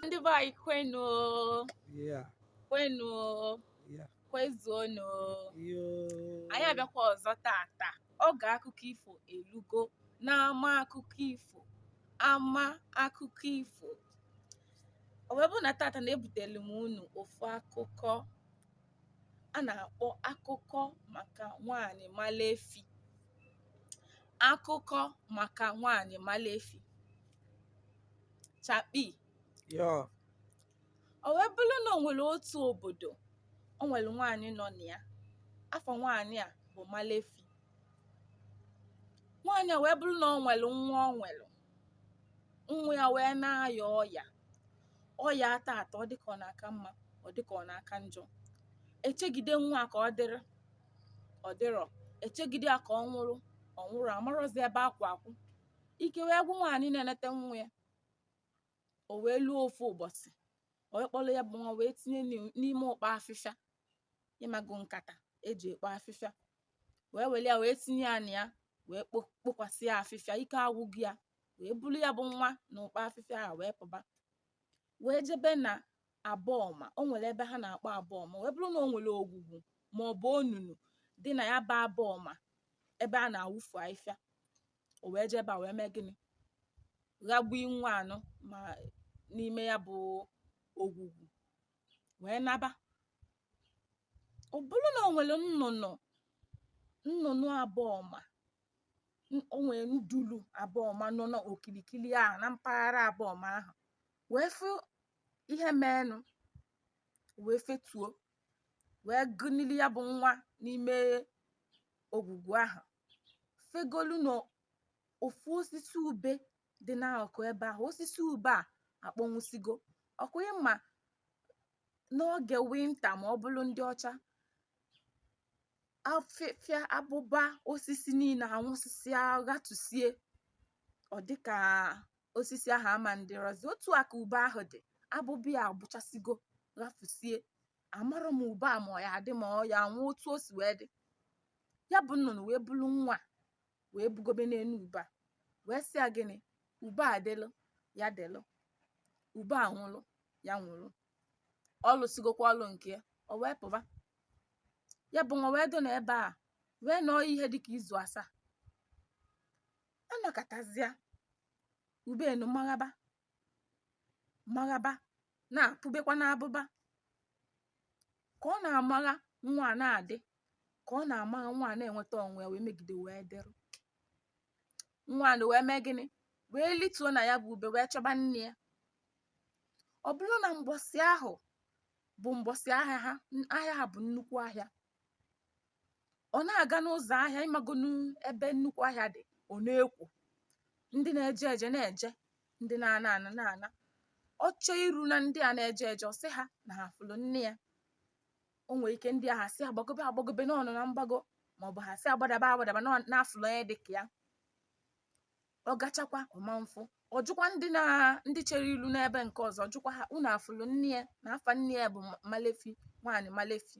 ndị be anyị kwenu o, Yeah, kwenu o, yeah, kwezuonu o. yo. anyị abịakwa ọzọ tata Oge akụkọ ifo elugo n'ama akụkọ ifo ama akụkọ ifo o wee bụ na tata na ebutelu m unu ofu akụkọ a na-akpọ akụkọ maka nwaanyị Malefi akụkọ maka nwaanyị Malefi chakpi Yo, O wee bụrụ na o nwere otu obodo, o nwere nwaanyị nọ na ya. Afa nwaanyị a bụ Malefi. Nwaanyị a wee bụrụ na o nwere nwa o nwere. Nwa ya wee na-aya ọya. Ọya a tata ọ dịka ọ na-aka mma, ọ dịka ọ na-aka njọ. Echegide nwa a ka ọ dịrị, ọ dịrọ. Echegide ya ka ọ nwụrụ, ọ nwụrọ. Amarọzi ebe a kwụ akwụ. Ike wee gwụ nwaanyị na-enete nwa ya. o wee luo ofu ụbọsị o wee kpọrọ ya bụ nwa wee tinye n'i- n'ime ụkpa afịfịa ị mago nkata e ji ekpo afịfịa wee were ya wee tinye ya na ya wee kpo- kpokwasị ya afịfịa ike agwụgo ya wee bulu ya bụ nwa na ụkpa afịfịa a wee pụba wee jebe na abọọma o nwere ebe ha na-akpọ abọọma wee bụrụ na o nwere ogwugwu ma ọ bụ onunu dị na ya bụ abọọma ebe a na-awụfu afịfịa o wee jee ebe a wee mee gịnị ghagbuo nwa anụ ma n'ime ya bụ ogwugwu wee naba ọ bụrụ na o nwere nnụnụ nnụnụ abọọma n- o nwere ndulu abọọma nọ n'okilikili ahụ na mpaghara abọọma ahụ wee fụ ihe meenụ wee fetuo wee gụnili ya bụ nwa n'ime ogwugwu ahụ fegolu na ofu osisi ube dị n'akụkụ ebe ahụ osisi ube a akpọnwụsigo ọ kwa ị ma n'oge winta ma ọ bụrụ ndị ọcha afịfịa abụba osisi niile anwụsịsịa ghatusie ọ dịka osisi ahụ ama adịrọzi otu a ka ube ahụ dị abụba ya agbụchasịgo ghafusie amarọ m ube a ma ọ ya adị ma ọ ya anwụ otu o si wee dị ya bụ nnụnụ wee bulu nwa a wee bugobe n'enu ube a wee sị ya gịnị ube a dịlụ ya dịlụ ube a nwụlụ ya nwụlụ ọ lụsigokwa ọlụ nke ya o wee pụba ya bụ nwa wee dọ na ebe a wee nọọ ihe dịka izu asaa a nọkatazịa ube enu maghaba maghaba na-apụbekwa n'abụba ka ọ na-amagha nwa a na-adị ka ọ na-amagha nwa a na-enweta onwe ya wee megide wee dịrị nwa a wee mee gịnị wee lituo na ya bụ ube wee chọba nne ya ọ bụrụ na mgbọsị ahụ bụ mgbọsị ahịa ha ahịa ha bụ nnukwu ahịa ọ na-aga n'ụzọ ahịa ị magonu ebe nnukwu ahịa dị ọ na-ekwo ndị na-eje eje na-eje ndị na-ana ana na-ana ọ chee iru na ndị a na-eje eje ọ sị ha na ha fụrụ nne ya o nwere ike ndị ahụ asị ya gbagobe gbagobe na ọ nọ na mgbago ma ọ bụ ha asị ya gbadaba gbadaba n'ọ- na a fụlụ onye dị ka ya ọ gachakwa ọ ma afụ ọ jụkwa ndị na ndị chere ilu n'ebe nke ọzọ ọ jụkwa ha unu afụlụ nne ya na afa nne ya bụ Ma- malefi nwaanyị malefi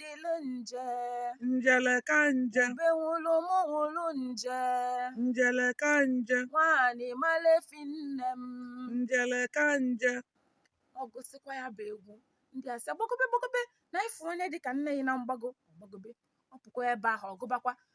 dịlụ nje njele ka nje ube nwụrụ mụ nwụrụ nje njele ka nje nwaanyị malefi nne m njele ka nje ọ gụsịkwa ya bụ egwu ndị a sị gbagobe gbagobe na ịfụ onye dị ka nne ya na mgbago ọ gbagobe ọ pụkwa ebe ahụ ọ gụbakwa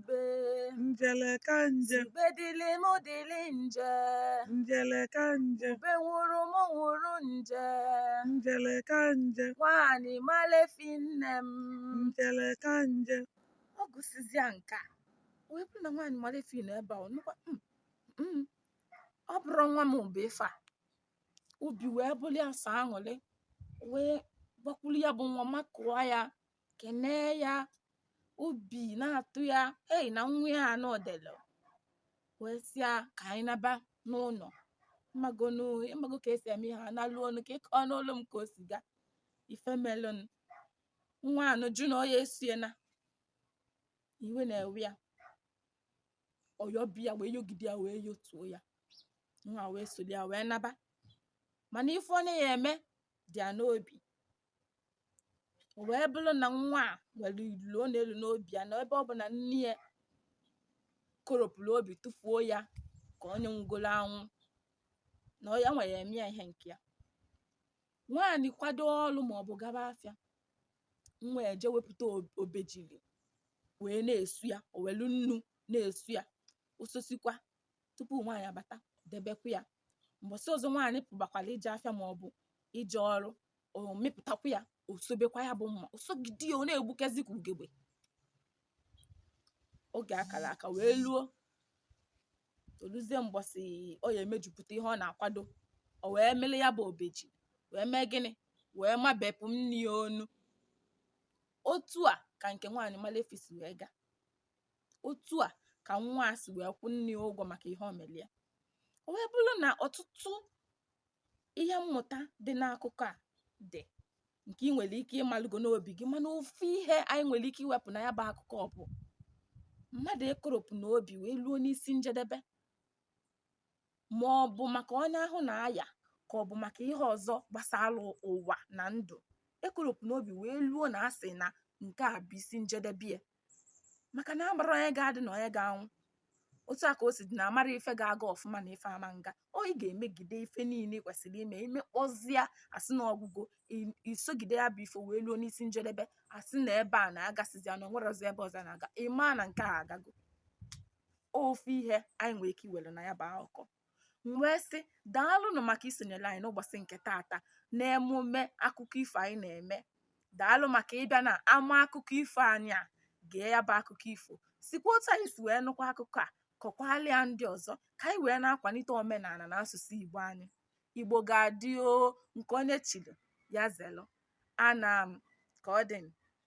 ube njele ka nje sị ube dịlị m dịlị nje njele ka nje ube nwụrụ m nwụrụ nje njele ka nje nwaanyị malefi nne m njele ka nje ọ gụsịzịa nke a wee bụrụ na nwaanyị malefi nọ ebe a ọ nụkwa "Mm, mm, ọ bụrụ nwa m bụ ife a obi wee bụrụ ya sọ aṅụrị wee gbakwuru ya bụ nwa makụọ ya kenee ya obi na-atọ ya ei na nwa ya na ọ dịlụ wee sị ya ka anyị naba n'ụlọ ị mago ka e si eme ha naluo ụnọ ka ị kọọlụ m ka o si gaa ife melụnụ nwa anụ jụ na ọ ya eso ya na iwe na-ewe ya ọ yọba ya wee yọgide ya wee yọtuo ya nwa wee soli ya wee naba mana ife ọ na-ya eme dị ya n'obi o wee bụrụ na nwa a nwere ilolo ọ na-elo n'obi ya na ebe ọ bụ na nne ya koropụrụ obi tụfuo ya ka onye nwugoro anwụ na ya nwere eme ya ihe nke ya nwaanyị kwado ọrụ ma ọ bụ gaba afịa nwa eje wepụta ob- obejiri wee na-esu ya o welu nnu na-esu ya o sosikwa tupu nwaanyị abata debekwa ya mbọsị ọzọ nwaanyị pụbakwara ije afịa ma ọ bụ ije ọrụ ọ mịpụtakwa ya o sobekwa ya bụ mma o sogide ya ọ na-egbukezi ka ugegbe oge a kara aka wee luo o luzie mbọsị ọ ya emejupụta ihe ọ na-akwado o wee mịlị ya bụ obeji wee mee gịnị wee mabepụ nne ya onu otu a ka nke nwaanyị Malefi si wee gaa otu a ka nwa a si wee kwụ nne ya ụgwọ maka ihe o mere ya o wee bụrụ na ọtụtụ ihe mmụta dị n'akụkọ a dị nke ị nwere ike ịmalụgo n'obi gị mana ofu ihe anyị nwere ike iwepụ na ya bụ akụkọ bụ mmadụ ekoropụna obi wee luo n'isi njedebe ma ọ bụ maka onye ahụ na-aya ka ọ bụ maka ihe ọzọ gbasara ụwa na ndụ ekoropụna obi wee luo na asị na nke a bụ isi njedebe ya maka na amarọ onye ga-adị na onye ga-anwụ otu a ka o si dị na amarọ ife ga-aga ọfụma na ife ama nga ọ ị ga-emegide ife niile ị kwesịrị ime imekpọzịa asị na ọgwụgwụ isogide ya bụ ife wee luo n'isi njedebe asị na ebe a na-agasịzịa na o nwerọzi ebe ọzọ na-aga ị ma na nke a agago ofu ihe anyị nwere ike iwere na ya bụ akụkọ wee sị daalụnụ maka isonyere anyị n'ụbọchị nke taata n'emume akụkọ ifo anyị na-eme daalụ maka ịbịa n'ama akụkọ ifo anyị a gee ya bụ akụkọ ifo sikwa otu anyị si wee nụkwa akụkọ a kọkwaalụ ya ndị ọzọ ka anyị wee na-akwalite omenala na asụsụ igbo anyị igbo ga-adị o nke onye chiri ya zelu anaa m ka ọ dị